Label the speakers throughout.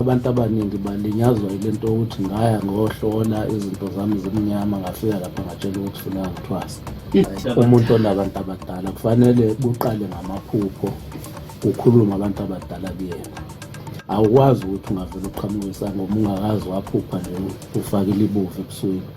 Speaker 1: Abantu abaningi balinyazwa yile nto yokuthi ngaya ngohlola izinto zami zimnyama ngafika lapha ngatshela ukuthi funa ngithwasa. Umuntu onabantu abadala kufanele kuqale ngamaphupho kukhulume abantu abadala kuyena. Awukwazi ukuthi ungavele uqhamuke isangoma ungakazi waphupha nje ufakile ibuvu ebusweni.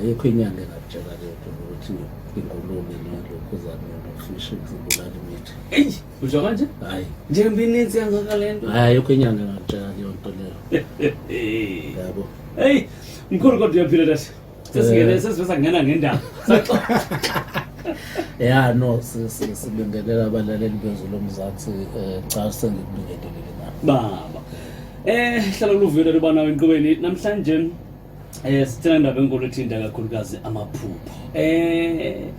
Speaker 1: ayikho inyanga engakutshela lento ukuthi ingulube nelokhuzane nofishi zibulala imithi eyi usho kanje
Speaker 2: hayi njengoba
Speaker 1: ininzi
Speaker 2: kangaka le nto hayi ayikho inyanga
Speaker 1: engakutshela leyo nto leyo yabo eyi
Speaker 2: mkhulu kodwa uyaphila lasi sesingene eh. sesivesa kungena ngendaba
Speaker 1: ya no sibingelela abalaleli bezwe lomzansi um eh, cha sengikubingelelile na baba
Speaker 2: um hlala luvile lubanawo enqubeni namhlanje Eh sithanda indaba enkulu ethinta kakhulukazi amaphupho. Eh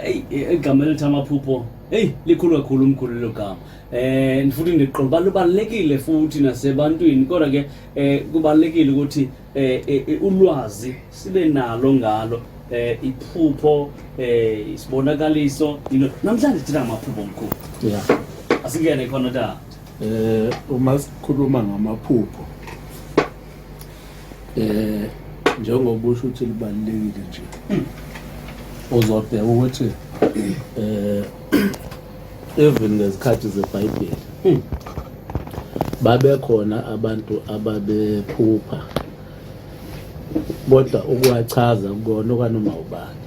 Speaker 2: hey igama elithi amaphupho hey likhulu kakhulu umkhulu lo gama. Eh ndifuthi ndiqonda balubalekile futhi nasebantwini kodwa ke eh kubalekile ukuthi eh, eh, eh ulwazi sibe nalo ngalo eh iphupho eh isibonakaliso namhlanje thina amaphupho omkhulu. Yeah.
Speaker 1: Asingene khona
Speaker 2: da. Eh uma
Speaker 1: sikhuluma ngamaphupho eh njengoba usho ukuthi libalulekile nje uzobheka ukuthi eh even ngezikhathi zebhayibheli babekhona abantu ababephupha kodwa ukuwachaza kukona okwanoma ubani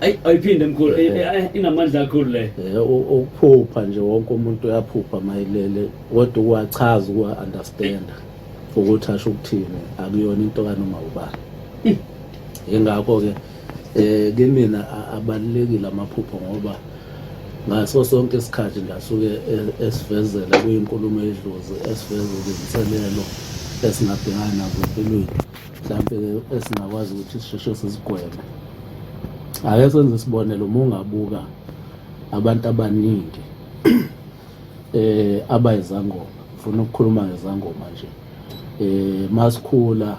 Speaker 1: ayi ayiphinde mkhulu eh,
Speaker 2: eh, eh, inamandla kakhulu le ukuphupha
Speaker 1: nje wonke umuntu uyaphupha mayilele kodwa ukuwachaza ukuwa-understanda ukuthi asho ukuthini akuyona into kanoma ubani yingakho-ke um kimina abalulekile amaphupho ngoba ngaso sonke isikhathi ngasuke e-, esivezela kuyinkulumo edlozi esivezela izinselelo esingadingani nazo empilweni mhlawumpe-ke esingakwazi ukuthi sisheshe sizigweme ake senze isibonelo uma ungabuka abantu abaningi eh aba izangoma ngifuna ukukhuluma ngezangoma nje eh masikhula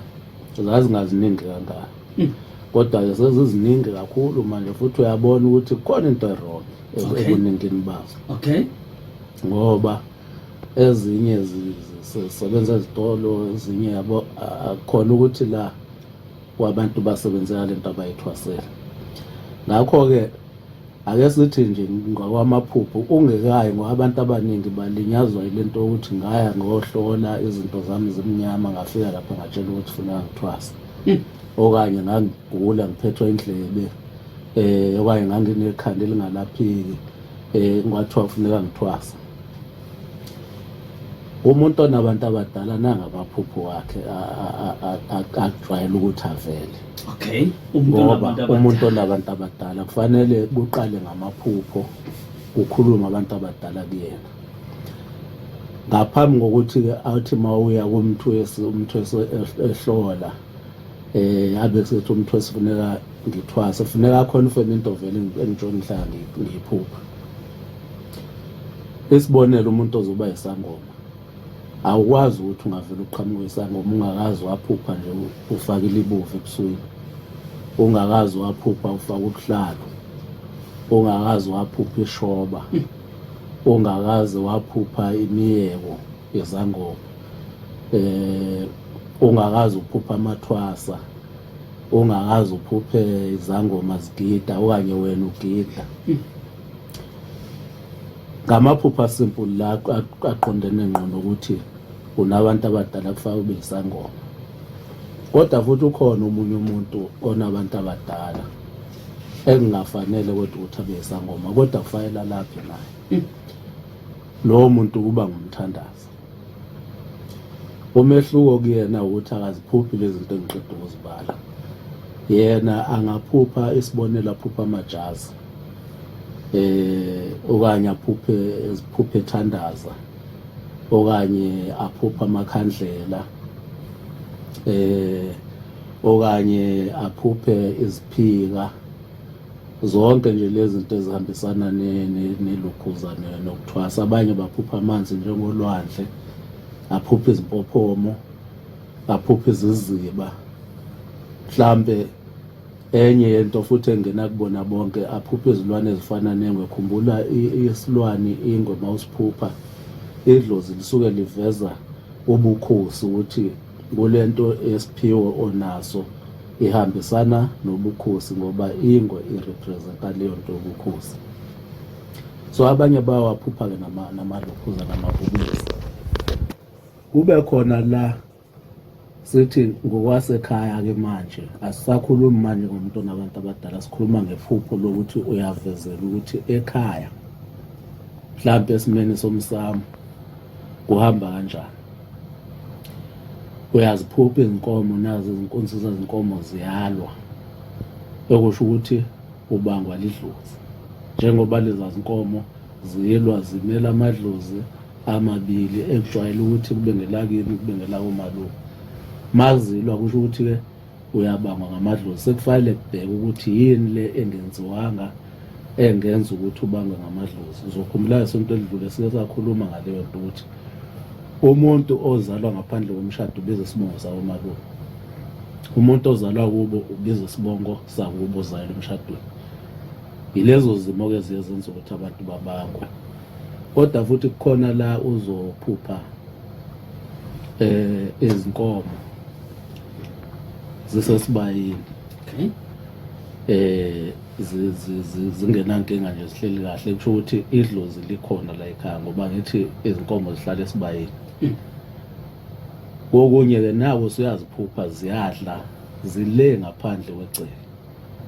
Speaker 1: zazingaziningi kangaka hmm. kodwa ke seziziningi kakhulu manje futhi uyabona ukuthi kukhona into erong ekuningini bazo okay
Speaker 2: ngoba
Speaker 1: ezinye zisebenza ezitolo ezinye yabo akukhona ukuthi la wabantu basebenzela le nto abayithwasele. Ngakho-ke ake sithi nje ngokwamaphupho ungekayi ngoba abantu abaningi balinyazwa yile nto yokuthi ngaya ngohlola izinto zami zimnyama ngafika lapha ngatshela ukuthi funa ngithwasa hmm. okanye ngangigula ngiphethwe indlebe um okanye nganginekhanda elingalapheki um kwathiwa kufuneka ngithwasa umuntu onabantu abadala nangabaphupho wakhe akujwayele ukuthi avele okay
Speaker 2: ngoba
Speaker 1: umuntu onabantu abadala kufanele kuqale ngamaphupho kukhuluma abantu abadala kuyena ngaphambi kokuthi-ke athi uma uya kumthwesi umthwesi ehlola eh abe kuzothi umthwesi funeka ngithwase funeka khona ufeme into vele engitshona ngihlala ngiphupha isibonelo umuntu ozoba isangoma awukwazi ukuthi ungavela uqhamuke isangoma ungakazi waphupha nje ufake ilibuvu ebusuku ungakazi waphupha ufaka ubuhlalo ungakazi waphupha ishoba ungakazi waphupha imiyeko yezangoma eh ungakazi uphupha amathwasa ungakazi uphuphe izangoma zigida okanye wena ugidla ngamaphupha simple la aqondene ngqo nokuthi unabantu abadala kufanele ube isangoma kodwa futhi ukhona omunye umuntu onabantu abadala engingafanele kodwa ukuthi abe isangoma kodwa kufanele alaphe naye lowo muntu kuba ngumthandazi umehluko kuyena ukuthi akaziphuphi lezi zinto engiqeda ukuzibala yena angaphupha isibonelo aphupha amajazi eh okanye aphuphe iziphuphe ethandaza okanye aphupha amakhandlela eh okanye aphuphe iziphika zonke nje lezi zinto ezihambisana nelukhuza nokuthwasa abanye baphupha amanzi njengolwandle aphupha izimpophomo aphupha iziziba mhlambe enye yento futhi engena kubona bonke aphupha izilwane ezifana nengwe khumbula isilwane ingwe mawusiphupha idlozi lisuke liveza ubukhosi ukuthi kulento yesiphiwo onaso ihambisana nobukhosi ngoba ingwe irepresenta leyo nto yobukhosi so abanye bawaphupha-ke namalokhuza namabhubesi kube khona la sithi ngokwasekhaya-ke manje asisakhulumi manje ngomuntu onabantu abadala sikhuluma ngephupho lokuthi uyavezela ukuthi ekhaya mhlawumpe esimeni somsamo kuhamba kanjani uyaziphupha izinkomo nazo izinkunzi zezinkomo ziyalwa okusho ukuthi ubangwa lidlozi njengoba leza zinkomo zilwa zimela amadlozi amabili ekujwayele ukuthi kube ngelakini kube ngelakomalume mazilwa kusho ukuthi-ke uyabangwa ngamadlozi sekufanele kubheke ukuthi yini le engenziwanga engenza ukuthi ubangwe ngamadlozi uzokhumbula isonto elidlule sike sakhuluma ngaleyo nto ukuthi umuntu ozalwa ngaphandle komshado ubiza isibongo sakomalume umuntu ozalwa kubo ubiza isibongo sakubo ozalwa emshadweni yilezo zimo ke ziye zenza ukuthi abantu babangwe kodwa futhi kukhona la uzophupha eh izinkomo zisesibayeni okay eh zingenankinga nje zihleli kahle kusho ukuthi idlozi likhona la ekhaya ngoba ngithi izinkomo zihlala esibayeni hmm. kokunye-ke nawo usuyaziphupha ziyadla zile ngaphandle kwegceke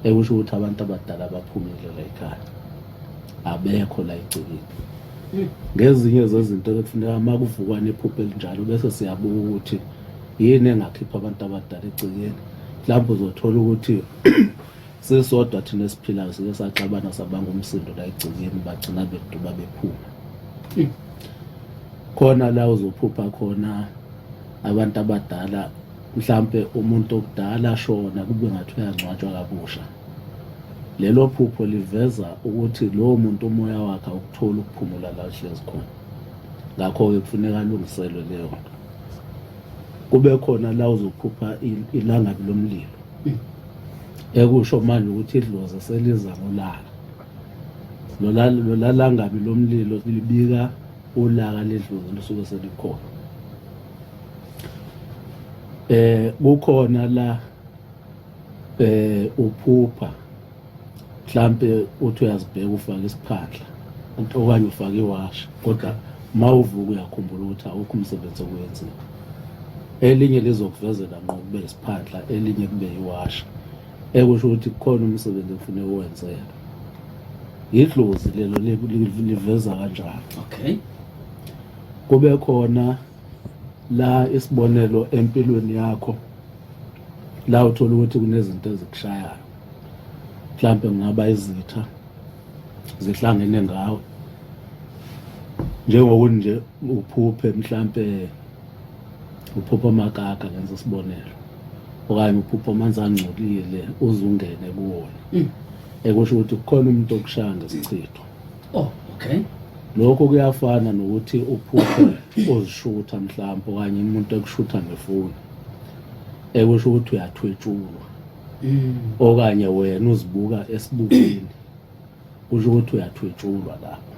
Speaker 1: ekusho ukuthi abantu abadala baphumile la ekhaya abekho la egcekeni hmm. ngezinye zezinto ekufuneka uma kuvukwa nephupho elinjalo bese siyabuka ukuthi yini engakhipha abantu abadala egcekeni mhlawumbe uzothola ukuthi sisodwa thina esiphilayo sike saxabana sabanga umsindo la egcekeni bagcina beduba bephuma hmm. khona la uzophupha khona abantu abadala mhlampe umuntu okudala ashona kube ngathi uyangcwatshwa kabusha lelo phupho liveza ukuthi lowo muntu umoya wakhe awukutholi ukuphumula la uhlezi khona ngakho-ke kufuneka alungiselwe leyo nto kube khona la uzophupha ilangabi lomlilo hmm. ekusho manje ukuthi idlozi seliza ngolaka lolalangabi lomlilo libika ulaka ledlozi lusuke selikhona eh kukhona la eh uphupha mhlampe uthi uyazibheka ufake isiphandla okanye ufake iwashi kodwa uma uvuka uyakhumbula ukuthi awukho umsebenzi okwenzile elinye lizokuvezela nqo kube isiphandla elinye kube iwashi ekusho ukuthi kukhona umsebenzi okufuneka uwenzeke yidlozi lelo liveza kanjalo okay kube khona la isibonelo empilweni yakho la uthola ukuthi kunezinto ezikushayayo mhlampe kungaba izitha zihlangene ngawe njengokuthi nje uphuphe mhlampe uphupha amakaka ngenza isibonelo okanye uphupha amanzi angcolile uzungene kuwona mm. ekusho ukuthi kukhona umuntu okushaya ngesichitho oh okay
Speaker 2: lokho
Speaker 1: kuyafana nokuthi uphuphe uzishutha mhlawumbe okanye umuntu ekushutha ngefoni ekusho ukuthi uyathwetshulwa mm. okanye wena uzibuka esibukweni kusho ukuthi uyathwetshulwa lapho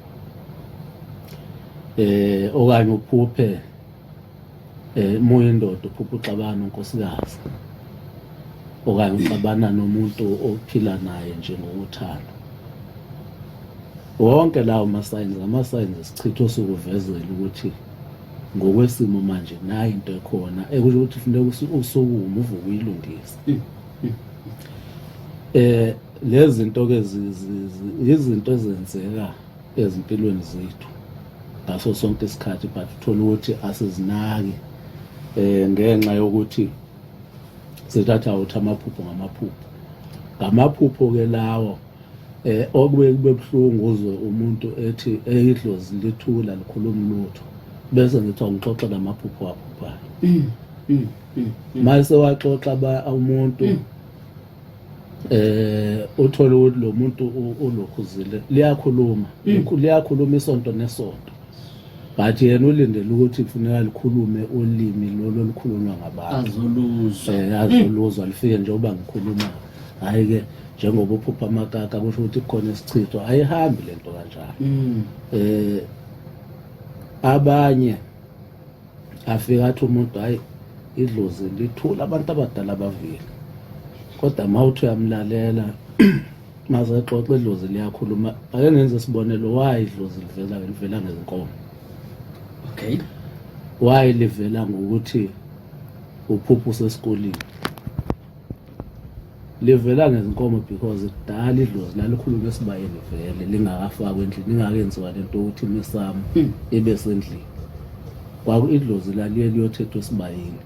Speaker 1: eh okanye uphuphe eh moya indoda uphupha uxabana unkosikazi okanye uxabana nomuntu ophila naye nje ngokuthanda wonke lawo masayini ngama-signs esichitho sokuvezela ukuthi ngokwesimo manje nayi into ekhona ekusho ukuthi funeka usukume uvuke uyilungise mm, mm. eh lezi zinto ke izinto ezenzeka ezimpilweni zethu ngaso sonke isikhathi but uthola ukuthi asizinaki eh ngenxa yokuthi sithatha uthi amaphupho ngamaphupho ngamaphupho ke lawo eh okubuye kube buhlungu uzwe umuntu ethi eyidlozi lithula likhuluma lutho bese ngithi awuxoxe namaphupho aphuphayo mm, mm, mm, mase waxoxa ba umuntu eh uthola ukuthi lo muntu ulokhuzile liyakhuluma liyakhuluma isonto nesonto but yena ulindele ukuthi kufuneka likhulume ulimi lolo olukhulunywa ngabantu azoluzwa eh, azoluzwa lifike njengoba ngikhuluma hhayi ke njengoba uphupha amakaka kusho ukuthi kukhona isichitho ayihambi le nto kanjalo um abanye afika athi umuntu hhayi idlozi lithula abantu abadala bavile kodwa uma uthi uyamlalela maze xoxe idlozi liyakhuluma ake ngenze isibonelo why idlozi livela livela ngezinkomo okay why livela ngokuthi uphuphu sesikolile livela ngezinkomo because kudala idlozi lalikhuluma esibayeni vele lingakafakwa endlini ingakenziwa lento ukuthi imisamo hmm. ibe sendlini kwaku idlozi laliye liyothethwa esibayeni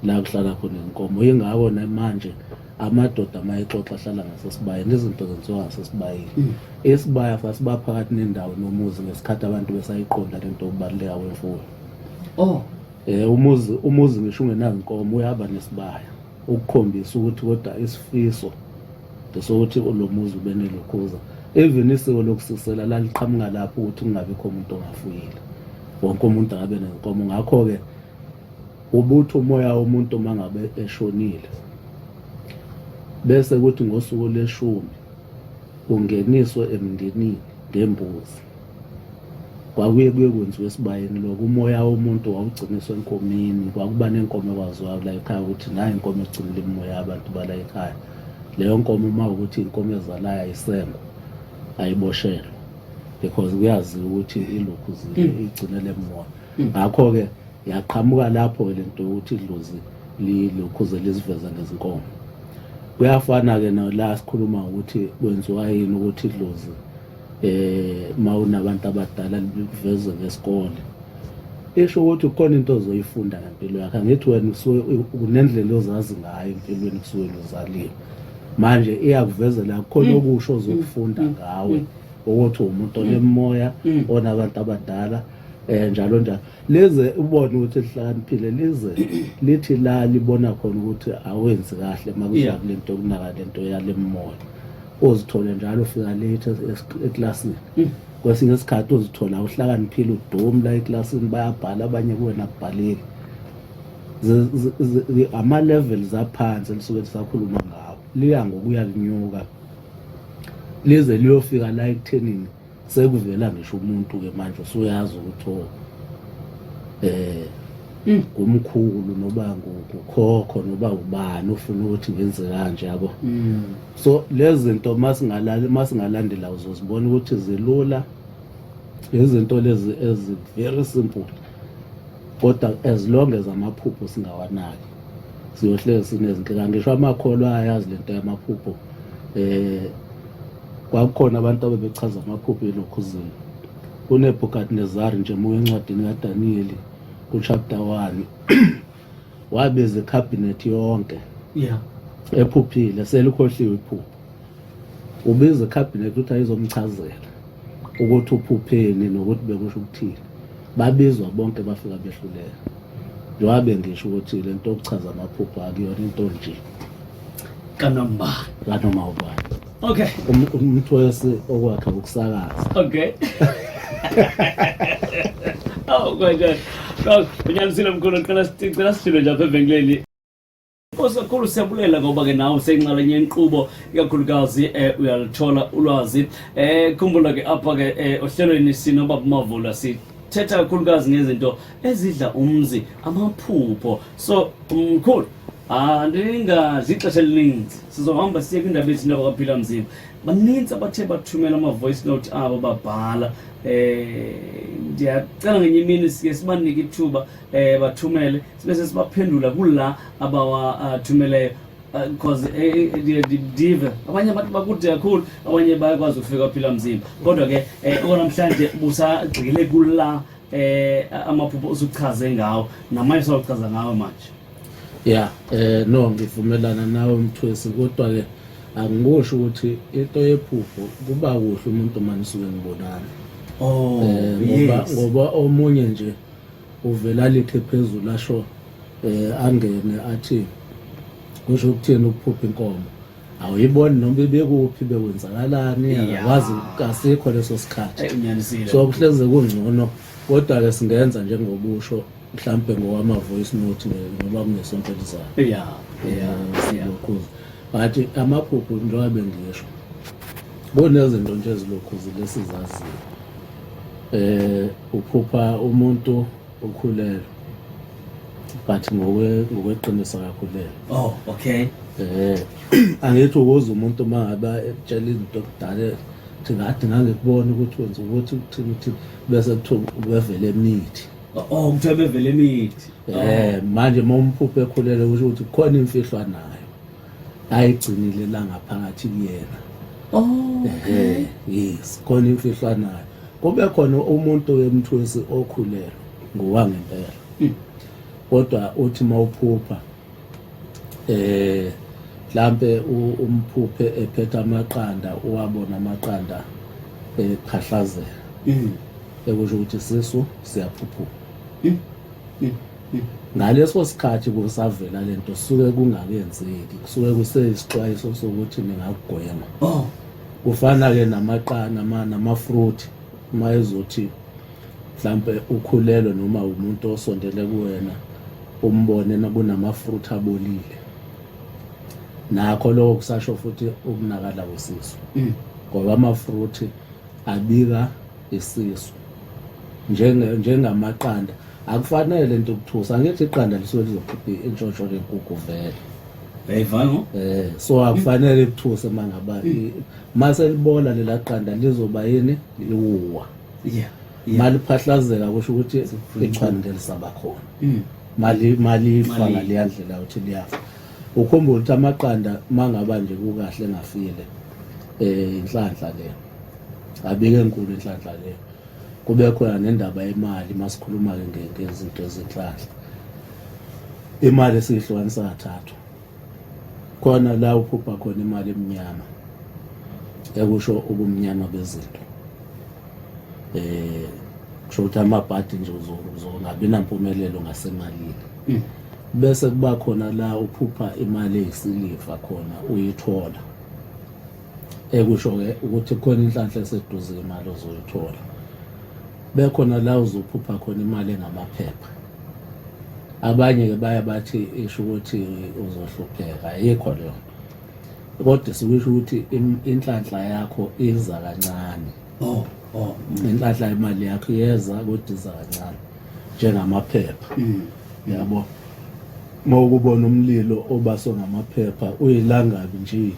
Speaker 1: la kuhlala khona inkomo yingakho namanje amadoda uma exoxa ahlala ngasesibayeni izinto zenziwa ngasesibayeni mm. isibaya sasiba phakathi nendawo nomuzi ngesikhathi abantu besayiqonda le nto yokubaluleka kwemfuyo oh eh umuzi umuzi ngisho ungenazinkomo uyaba nesibaya ukukhombisa ukuthi kodwa isifiso sokuthi lo muzi ube nelokhuza even isiko lokusisela laliqhamuka lapho ukuthi kungabikho umuntu ongafuyile wonke umuntu akabe nenkomo ngakho-ke Ubuthi umoya womuntu uma ngabe eshonile bese kuthi ngosuku leshumi ungeniswe emndenini ngembuzi kwakuye kuye kwenziwa esibayeni lokho umoya womuntu wawugciniswa enkomeni kwakuba nenkomo ekwaziwayo la ekhaya ukuthi nayo inkomo egcinile imimoya abantu bala ekhaya leyo nkomo uma ukuthi inkomo ezalayo ayisengo ayiboshelwe because kuyaziwa ukuthi ilokhu hmm. igcinele mona Ngakho-ke yaqhamuka lapho-ke le nto yokuthi idlozi lilokhuze liziveza ngezinkomo. Kuyafana-ke nala sikhuluma ukuthi kwenziwa yini ukuthi idlozi um uma unabantu abadala likuveze ngesikole esho ukuthi kukhona into ozoyifunda ngempilo yakhe angithi wena usuke kunendlela ozazi ngayo empilweni kusuke luzalile manje iyakuvezela kukhona mm. okusho ozokufunda mm. ngawe mm. ukuthi umuntu onemoya onabantu abadala mm. eh njalo njalo lize ubone ukuthi lihlakaniphile lize lithi la libona khona ukuthi awenzi kahle makuya kule nto kunaka le nto yalemoya uzithole njalo ufika late eklasini mm. kwesinye isikhathi uzithola uhlakaniphile udomu la eklasini bayabhala abanye kuwena kubhalile ama-levels aphansi elisuke lisakhuluma ngawo liya ngokuya linyuka lize liyofika la ekuthenini sekuvela ngisho umuntu ke manje usuyazi ukuthi o eh mm. ngumkhulu noba ngukhokho noba ubani ufuna ukuthi ngenze kanje yabo mm. so lezi zinto masingalali masingalandela uzozibona ukuthi zilula izinto lezi ezi very simple kodwa as long as amaphupho singawanaki siyohlezi sinezinto kangisho amakholwa ayazi lento yamaphupho eh Kwakukhona abantu abebechaza amaphupho elokhuzini. KuNebukadnezari nje uma encwadini kaDaniyeli kuchapter 1 wabiza ikhabhinethi yonke yeah. ephuphile selikhohliwe iphupho ubiza ikhabhinethi ukuthi ayizomchazela ukuthi uphupheni nokuthi bekusho ukuthini babizwa bonke bafika behluleka njengoba bengisho ukuthi le nto yokuchaza amaphupho akuyona into nje
Speaker 2: kanoma kanoma
Speaker 1: ubani okay um,
Speaker 2: umthwesi
Speaker 1: okwakhe ukusakaza
Speaker 2: okay oh my god Unyalisile mkhulu, ngicela sicela sijule nje apha evenkileni. Nkosi kakhulu siyabulela ngoba ke nawe usenxalenye yenqubo ikakhulukazi eh, uyalithola ulwazi eh, khumbula ke apha ke eh, ohlelweni sinobaba Mavula si thetha kakhulukazi ngezinto ezidla umzi amaphupho so mkhulu andingadli ixesha elininzi sizohamba siye kwindaba ezinto abakaphila mzimba baninzi abathe bathumela ama-voice note abo babhala um ndiyacela ngenye imini sike sibanike ithuba um bathumele sibese sibaphendula kula abawathumeleyo uh, because eh, eh, ndive abanye abantu bakude kakhulu abanye bayakwazi ukufika phila mzimba kodwa ke okanamhlanje busagxile kula eh amaphupho usuchaze ngawo namanye sawuchaza ngawo manje ya
Speaker 1: eh no ngivumelana nawe mthwesi kodwa ke angikusho ukuthi into yephupho kuba kuhle umuntu manisuke ngibonana oh eh, ngoba ngoba omunye nje uvele alithe phezulu asho eh angene athi kusho ukuthini ukuphupha inkomo awuyiboni noma ibekuphi bekwenzakalani akwazi kasikho leso sikhathi so kuhleze
Speaker 2: kungcono
Speaker 1: kodwa-ke singenza njengobusho mhlawumbe ngowama-voice note ngoba kunesonto elizayo yeah, yeah, yeah. but amaphupho njengoba bengisho kunezinto nje ezilokhu zilesizaziyo eh uphupha umuntu okhulelwe but ngokwe ngokweqiniso akakhulelwe oh okay
Speaker 2: eh
Speaker 1: angithi ukuze umuntu uma ngabe etshela izinto kudala ukuthi ngathi ngangikubona ukuthi wenza ukuthi uthini ukuthi bese kuthiwa ubevele emithi oh kuthiwa bevele
Speaker 2: emithi eh manje
Speaker 1: uma umphuphe ekhulelwe kusho ukuthi kukhona imfihlwa nayo ayigcinile la ngaphakathi kuyena oh okay yes khona imfihlo anayo kube khona umuntu wemthwesi okhulelwe ngowangempela hmm. kodwa uthi mawuphupha eh mhlambe umphuphe ephethe amaqanda uwabona amaqanda ephahlazela hmm. ekusho ukuthi sisu siyaphuphuka hmm. Ngaleso sikhathi kusavela le nto suke kungakenzeki kusuke kuseyisixwayiso sokuthi ningakugwema oh. kufana-ke namaqana namafruthi uma ezothi mhlampe ukhulelwe noma umuntu osondele kuwena umbone kunamafruthi abolile nakho lokho kusasho futhi ukunakala kwesisu mm. ngoba amafruthi abika isisu njengamaqanda njenge akufanele le nto ukuthusa angithi iqanda lisuke lizokhipha intshontsho lenkukhu vele yayivalo
Speaker 2: eh so
Speaker 1: akufanele ikuthuse uma ngaba mase libola lela qanda lizoba yini liwuwa yeah maliphahlazeka kusho ukuthi ichwane lisaba khona hmm. mali mali ifa ngaleya ndlela ukuthi liyafa ukhumbula ukuthi amaqanda mangaba nje kukahle ngafile eh inhlanhla le abike enkulu inhlanhla le Kube khona nendaba yemali masikhuluma-ke ngezinto ezinhlahla. Imali esiyihlukanisa kathathu. Khona la uphupha khona imali emnyama ekusho ubumnyama bezinto. Eh kusho ukuthi amabhadi nje uzongabi nampumelelo ngasemalini. Mm. Bese kuba khona la uphupha imali eyisiliva khona uyithola. ekusho-ke ukuthi khona inhlanhla eseduze imali ozoyithola bekhona la uzophupha khona imali engamaphepha abanye-ke baye bathi isho ukuthi uzohlupheka ayikho leyo nto kodwa sikusho ukuthi inhlanhla yakho iza kancane oh oh ngenhlahla imali yakho iyeza kodiza kancane njengamaphepha mm. yabo uma ukubona umlilo obaso ngamaphepha uyilangabi nje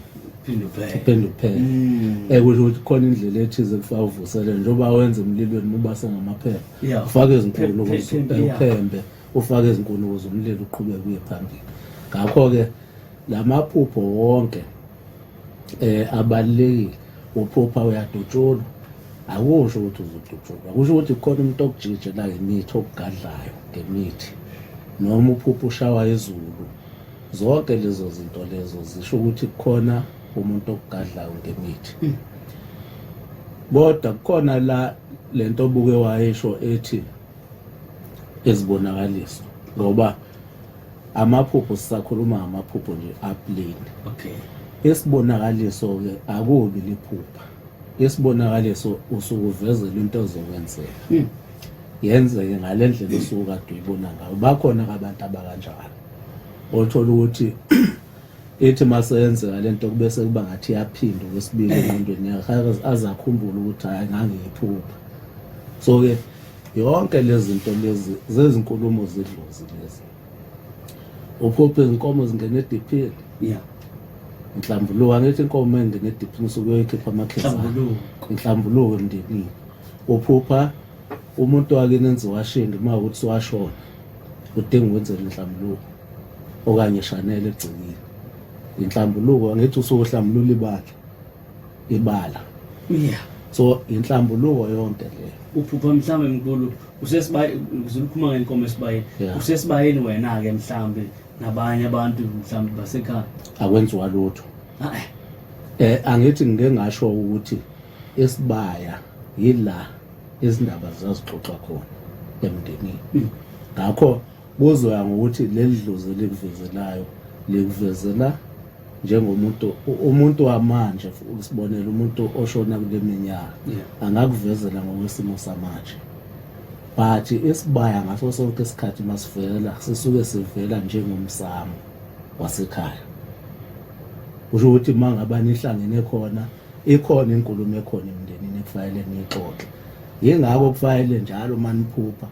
Speaker 1: phinde uphele mm. ekusho ukuthi khona indlela ethize kufa uvuselele njengoba wenza emlilweni mubasa ngamaphepha ufake izinkulumo uphembe ufake izinkulumo zomlilo uqhubeke uye phambili ngakho-ke la maphupho wonke eh abalekile uphupha uyadutshulwa akusho ukuthi uzodutshulwa kusho ukuthi khona umuntu okujije la ngemithi okugadlayo ngemithi noma uphupha ushawa izulu zonke lezo zinto lezo zisho ukuthi kukhona umuntu okugadlayo ngemithi hmm. kodwa kukhona la lento obuke wayesho ethi ezibonakaliso ngoba amaphupho sisakhuluma ngamaphupho nje apleni okay esibonakaliso ke akubi liphupha esibonakaliso usuke uvezela into ezokwenzeka hmm. yenzeke ngale ndlela osuke kade uyibona ngayo bakhona abantu abakanjalo othola ukuthi ethi maseyenzeka lento kube sekuba ngathi yaphinda kwesibili engqondweni yakhe aze akhumbule ukuthi hayi ngangiyiphupha so ke yonke lezinto lezi zezinkulumo zidlozi lezi uphuphe izinkomo zingena ediphini yeah nhlambuluko angithi inkomo engena ediphini usuke uyoyikhipha amakhesi nhlambuluko emndenini uphupha umuntu wakini enze washinga uma ukuthi washona udinga ukwenzela inhlambuluko okanye shanele egcekile inhlambuluko angithi usuke uhlambulula ibandla ibala yeah so inhlambuluko yonke le uphupha mhlawumbe
Speaker 2: mkhulu usesibaye uzilukhuma ngenkomo esibayeni yeah. usesibayeni wena ke mhlawumbe nabanye abantu mhlawumbe basekhaya akwenziwa lutho
Speaker 1: eh angithi ngike ngasho ukuthi esibaya yila izindaba zazixoxa khona emndenini hmm. ngakho Kuzoya ngokuthi leli dlozi elikuvezelayo likuvezela njengomuntu umuntu wamanje usibonela umuntu oshona kule minyaka angakuvezela ngokwesimo samanje but isibaya ngaso sonke isikhathi masivela sisuke sivela njengomsamo wasekhaya kusho ukuthi uma ngaba nihlangene khona ikhona inkulumo ekhona emndenini ekufanele niyixoxe yingakho kufanele njalo uma niphupha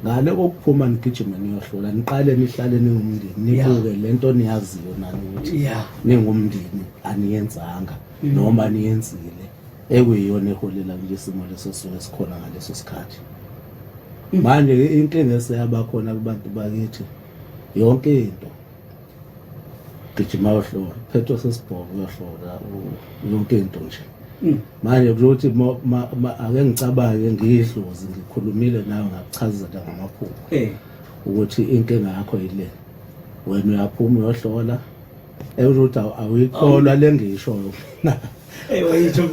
Speaker 1: ngale kokuphuma nigijime niyohlola niqale nihlale ningumndeni nibuke le nto niyaziyo nani ukuthi ningumndeni aniyenzanga mm. noma niyenzile ekuyiyona eholela kule simo leso suke sikhona ngaleso sikhathi mm. manje inkinga eseyabakhona kubantu bakithi yonke into gijima yohlola phethwe sesibhobo yohlola yonke into nje mm. manje kulothi ake ngicabange ngiyidlozi ngikhulumile nayo ngakuchazela ngamaphupho eh. ukuthi inkinga yakho yile wena uyaphuma uyohlola ekuthi awuyikholwa le ngishoyo mina
Speaker 2: eyitho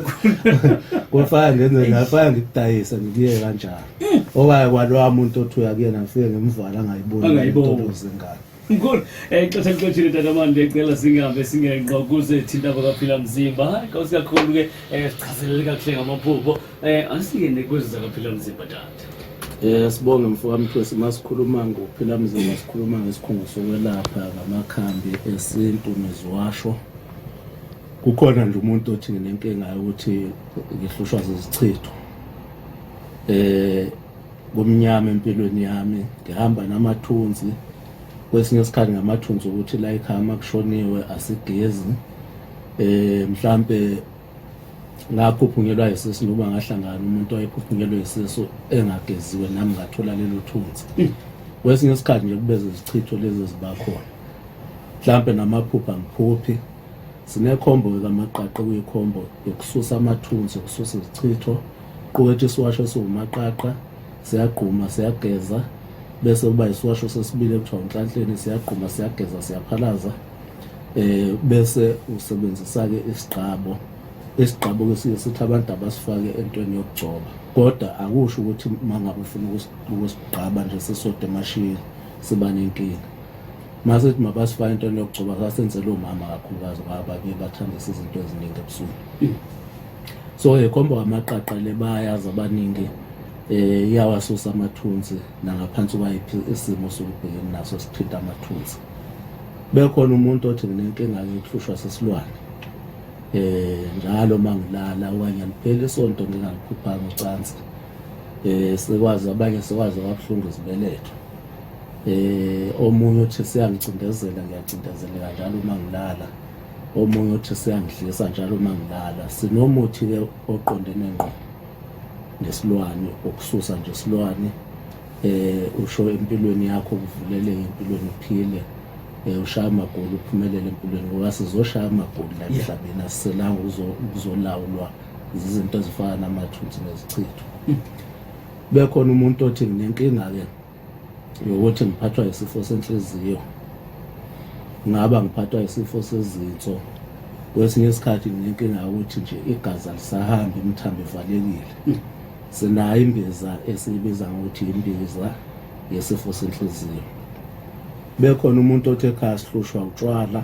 Speaker 2: kwafana ngenze
Speaker 1: ngafana ngikudayisa ngibuye kanjalo mm. owaye kwalowa muntu othi uya kuyena ngifike ngimvala ngayibona into ozengane Mkhulu, eh,
Speaker 2: ixesha lixeshile tata mani ndiyacela singabe singenqo kuze thinta kwakaphila mzimba. Hayi kawusi kakhulu ke eh, sichazelele kakuhle ngamaphupho. Eh, asingene kwezi zakaphila mzimba tata. Eh sibonge mfokamthwesi
Speaker 1: masikhuluma ngokuphila mzimba sikhuluma ngesikhungo sokwelapha ngamakhambi esintu neziwasho. Kukhona nje umuntu othi nginenkinga yokuthi ngihlushwa zizichitho. Eh kumnyama empilweni yami ngihamba namathunzi kwesinye isikhathi ngamathunzi ukuthi la ikhama kushoniwe asigezi eh mhlambe ngakhuphunyelwa isisu noma ngahlangana umuntu oyekhuphunyelwe isisu engageziwe nami ngathola lelo thunzi hmm. kwesinye isikhathi nje kubeze izichitho lezi zibakhona mhlambe namaphupha ngiphuphi sinekhombo kamaqaqe kuyikhombo yokususa amathunzi yokususa izichitho Qukethe isiwasho esiwumaqaqa, siyagquma, siyageza, bese kuba isiwasho sesibili ekuthiwa unhlanhleni, siyagquma, siyageza, siyaphalaza. Eh bese usebenzisa-ke isigqabo. Isigqabo-ke siye sithi abantu abasifake entweni yokugcoba. Kodwa akusho ukuthi uma ngabe ufuna ukusigqaba nje sisode emashiyeni siba nenkinga. Masithi mabasifake entweni yokugcoba sasenzela omama kakhulukazi ngoba babuye bathanda izinto eziningi ebusuku. so ekhomba eh, kwamaqaqa le bayazi abaningi eh iyawasusa amathunzi nangaphansi kwayiphi isimo sokubhekene naso sithinta amathunzi bekhona umuntu othi nginenkinga yokuhlushwa sesilwane eh njalo mangilala okanye liphele isonto ngingalikhuphanga ucansi eh sekwazi abanye sekwazi ababuhlungu izibeletho eh omunye uthi siyangicindezela ngiyacindezeleka njalo uma ngilala omunye uthi siyangidlisa njalo uma ngilala sinomuthi-ke oqondene ngqo nesilwane ukususa nje isilwane eh usho empilweni yakho ukuvuleleka empilweni uphile eh ushaya amagoli uphumelele empilweni ngoba sizoshaya amagoli la emhlabeni asiselanga ukuzolawulwa izinto ezifana namathuthi nezichitho bekhona umuntu othi nginenkinga-ke yokuthi ngiphathwa isifo senhliziyo ngaba ngiphathwa isifo sezinso kwesinye isikhathi nginenkinga yokuthi nje igazi alisahambi imithambo ivalekile hmm. sinayo imbiza esiyibiza ngokuthi imbiza yesifo senhliziyo bekhona umuntu othi ekhaya sihlushwa utshwala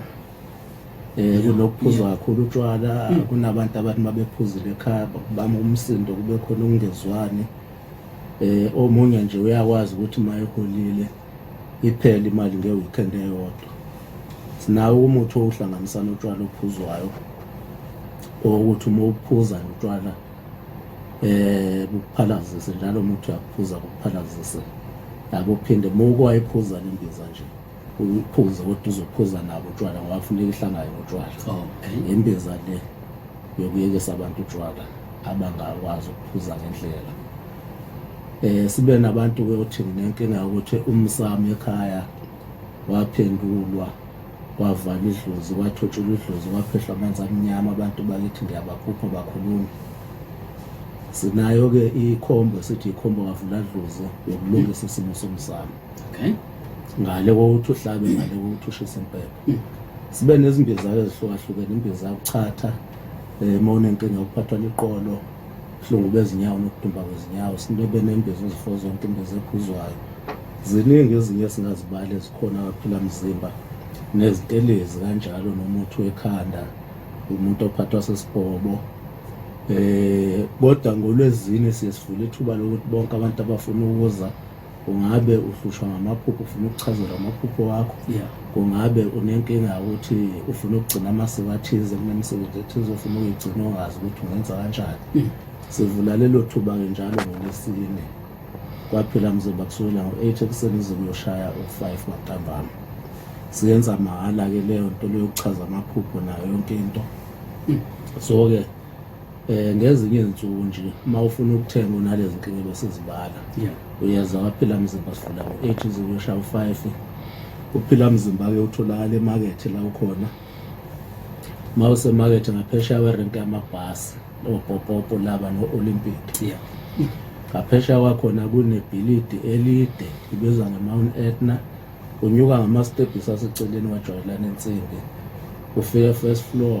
Speaker 1: eh kunokuphuza kakhulu utshwala hmm. kunabantu abantu mabephuzile ekhaya bama umsindo kube khona ukungezwani eh omunye nje uyakwazi ukuthi mayeholile iphele imali ngeweekend eyodwa sinawo umuthi owuhlanganisa notshwala ophuzwayo ukuthi uma uphuza notshwala eh bukuphalazise njalo umuthi uyakuphuza bukuphalazise yabo phinde muko ayiphuza lembiza nje uyiphuze kodwa uzophuza nabo utshwala ngoba funeka ihlangane notshwala imbiza le yokuyekisa abantu utshwala abangakwazi ukuphuza ngendlela eh sibe nabantu ke othi nginenkinga ukuthi umsamo ekhaya waphendulwa wavala idlozi kwathotshula idlozi kwaphehlwa amanzi amnyama abantu bakithi ngiyabaphupha bakhuluma sinayo ke ikhombo sithi ikhombo kavula dlozi yokulungisa isimo somsamo okay ngale kokuthi uhlabe ngale kokuthi ushise impepho hmm. sibe nezimbizako ezihlukahlukene imbiza yokuchatha um eh, uma unenkinga yokuphathwa liqolo ubuhlungu bezinyawo nokudumba kwezinyawo sinebe nembiza ezifo zonke imbiza ephuzwayo ziningi ezinye singazibali ezikhona kaphila mzimba nezitelezi kanjalo nomuthi wekhanda umuntu ophathwa sesibhobo eh kodwa ngolwezini siye sivula ithuba lokuthi bonke abantu abafuna ukuza ungabe uhlushwa ngamaphupho ufuna ukuchazelwa amaphupho wakho yeah. kungabe unenkinga yokuthi ufuna ukugcina amasiko athize kunemisebenzi ethize ufuna ukuyigcina ongazi ukuthi ungenza kanjani mm. sivula lelo thuba-ke njalo ngolesine kwaphela mzoba kusukela ngo-eight ekuseni ize kuyoshaya u-five maqambama siyenza mahhala-ke leyo nto leyokuchaza amaphupho nayo yonke into mm. so-ke Eh ngezinye izinsuku nje uma ufuna ukuthenga unalezi nkinga besizibala. Yeah. Uyeza waphila mzimba sifuna ngo-8 uze uyoshaya u-5. Uphila mzimba ke utholakala emakethe la ukhona. Uma usemakethe ngaphesheya werenki yamabhasi oPopopo laba no-Olympic. Yeah. Ngaphesheya kwakhona kunebhilidi elide ibizwa nge-Mount Etna. Unyuka ngamastebhisi aseceleni wajwayelana ensimbi. Ufike first floor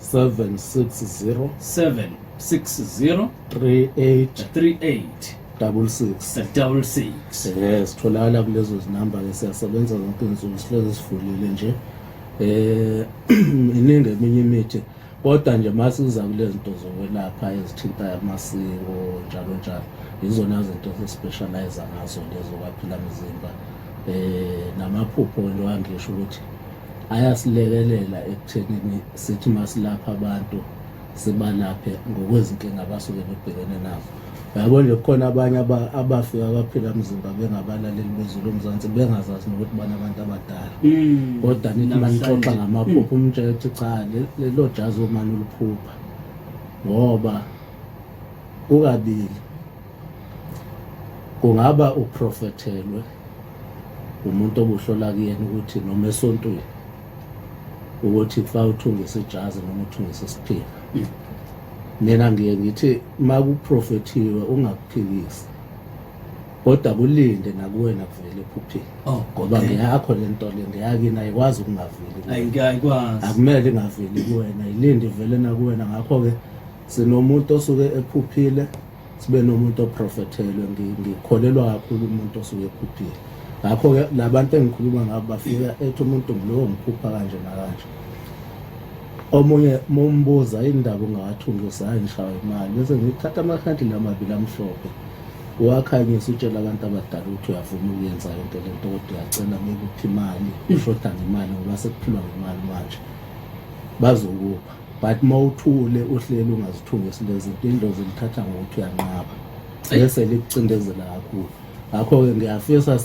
Speaker 1: 760 760 38 38 double six eh, double six eh sitholakala kulezo zinamba ke siyasebenza zonke insuku sihlezi sivulile nje eh iningi eminye imithi kodwa nje masiza kulezinto zokwelapha ezithinta amasiko njalo njalo izona zinto sesispecialize ngazo lezo kwaphila mzimba eh namaphupho nje angisho ukuthi ayasilekelela ekuthenini sithi masilapha abantu sibalaphe ngokwezinkinga abasuke bebhekene nazo yabo nje kukhona abanye abafika abaphila mzimba bengabalaleli bezulu omzansi bengazazi nokuthi bana abantu abadala mm, kodwa nithi manixoxa ngamaphupho mm. umtshela ukuthi cha lelo jazi omane uliphupha ngoba kukabili kungaba uprofethelwe umuntu obuhlola kuyena ukuthi noma esontweni ukuthi kufa uthungise ijazi noma uthungise isiphila mina ngiye ngithi uma kuprofethiwe ungakuphikisi kodwa kulinde nakuwena kuvele ephupheni oh, ngoba ngeyakho le nto le ngeyakini ayikwazi ukungaveli akumele ingaveli kuwena yilinde ivele nakuwena ngakho-ke sinomuntu osuke ephuphile sibe nomuntu oprofethelwe ngikholelwa kakhulu umuntu osuke ekhuphile ngakho-ke labantu engikhuluma ngabo bafika ethi umuntu ngulowo ngiphupha kanje nakanje omunye mumbuza indaba ungawathungisa hayi ngishawa imali bese ngithatha amakhandile amabili amhlophe uwakhanyisa utshela abantu abadala ukuthi uyavuma ukuyenza yonke le nto kodwa uyacela ngeke uphi imali ishoda ngemali ngoba sekuphilwa ngemali manje bazokupha but uma uthule uhleli ungazithungisi lezi mpindlo zilithatha ngokuthi uyanqaba bese likucindezela kakhulu ngakho-ke ngiyafisa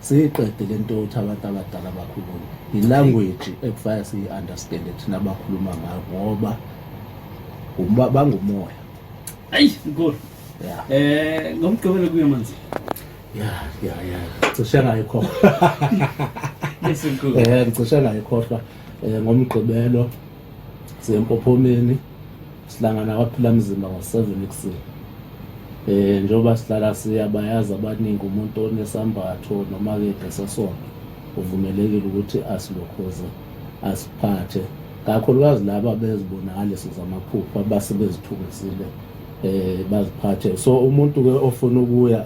Speaker 1: siyiqede le nto yokuthi abantu abadala bakhulume yilanguage ekufanele siyi-understande thina abakhuluma ngayo ngoba bangumoya ayi nkulu um
Speaker 2: ngomgqibelo kuyo manzi
Speaker 1: ya ya ya cishe ngayikhohlwa um ngicishe ngayikhohlwa Eh, ngomgqibelo sempophomeni sihlangana kwaphila mzima ngo-7 ekuseni eh njengoba sihlala siya bayazi abaningi umuntu onesambatho noma ke ngesesonto uvumelekile ukuthi asilokhoze asiphathe kakhulukazi laba bezibonakaliso zamaphupho abase bezithungisile eh baziphathe so umuntu ke ofuna ukuya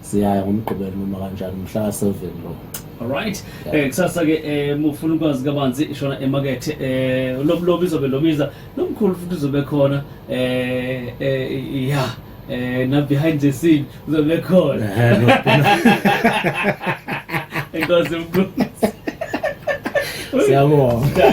Speaker 1: siyaya ngomgqibelo noma kanjani mhla seven lo alright um
Speaker 2: eh, kusasa ke um ufuna ukwazi kabanzi ishona emakethe um eh, lomlobi izobe lobiza nomkhulu futhi uzobe khona um ya um na-behind the scene uzobe khona enkosi mkhulu siyabonga